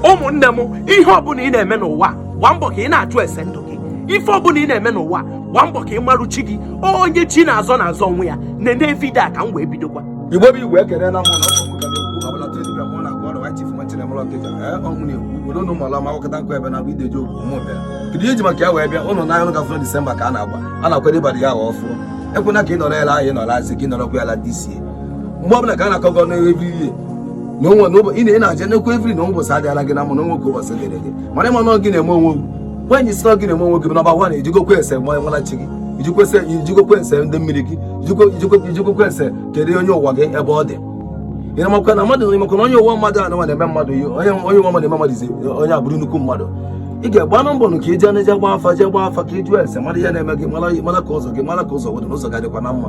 ụmụnne m ihe ọbụla ị na-eme n'ụwa gbaa mbọ ka ị na-ajụ ese ndụ gị ife ọbụla ị na-eme n'ụwa gbaa mbọ ka ị marụ chi gị onye chi na-azọ na-azọ onwe ya na-ene vidio a ka m wee bidokwa igbo bụ igbo ekele na mụ na ọkụ ka na-ekwu ọbụla tezibịa mụ na gọọdụ wachi fu nwa chinemelu ọkịja ee ọnụ na-ekwu obodo na ụmụala ma akụkọta nkụ ebe na bụ ideji okwu mụ bịa kedu ihe m ji maka ya wee bịa ụnụ n'anya ụnụ gafere disemba ka a na-agba a na-akwado ịbadị ya arọ ọfụọ ekwena ka ị nọrọ ebe ahụ ị nọ last year ka ị nọrọkwa ya na this year mgbe ọbụla ka a na-akọgọ n'ebe ihe na onwe na ụbọchị ị na-aja n'ekwu evri na ụbọchị adịrọ gị mma na onwe ka ụbọchị dịrị gị mana ịma na gị na-eme onwe gị nwaanyị si na gị na-eme onwe gị nọmba wan ị jụgokwa ese mara chi gị ị jụgokwa ese ndị mmiri gị ị jụgokwa ese kedu onye ụwa gị ebe ọ dị ị na-amakwa na mmadụ ịmakwa na onye ụwa mmadụ a na-eme mmadụ onye ụwa mmadụ eme mmadụ izi onye abụrụ nnukwu mmadụ ị ga-agba na mbọ ka ije na-eje gba afa jee gba afa ka ịjụ ese mara ihe na-eme gị mara ka ụzọ gị mara ka ụzọ were n'ụzọ ga-adịkwa na mma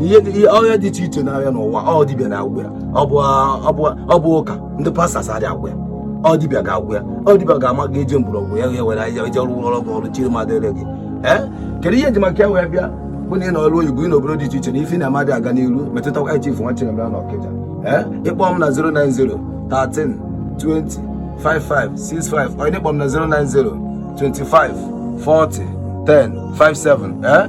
ihe dị- ihe- ọrịa dị iche iche na-arịa n'ụwa ọ dibịa na-agwọ ya ọ bụ ọ bụ ọ bụ ụka ndị pastọs adị agwọ ya ọ dibịa ga-agwọ ya ọ dibịa ga-ama ka eji mgbọrọgwụ ya ya were ahịhịa eji rụọ ọrụ gị ọrụ chiri mmadụ ere gị ee kedu ihe m ji maka ya wee bịa bụ na ị nọ ọrụ oyibo ị n'obodo dị iche iche na ife na-eme adị aga n'iru metụtakwa ya chifu nwa chinemere na ọkịja ee ịkpọ m na 090 13 20 55 65 or ịkpọ m na 090 25 40 10 57 ee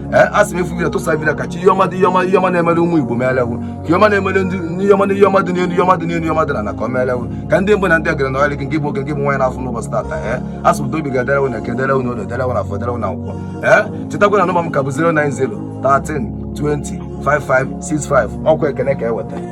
ee a sị m efu vidio tụsa vidio ka chi ihe ọma dị ihe ọma ihe ọma na-emere ụmụ igbo meelewu ka ihe ọma na-emere ndị ihe ọma ihe ọma dị n'elu ihe ọma dị n'elu ihe ọma dị na ka ọ meelewu ka ndị mbụ na ndị egede na ọrịa gị nke bụ nwoke nke bụ nwaanyị na-afụ n'ụbọchị tata ee a sị m dobi ga-edere unu eke dere unu orie dere unu afọ dere unu nkwọ ee chetakwa na nọmba m ka bụ 090 13 20 5565 ọkwa ekene ka eweta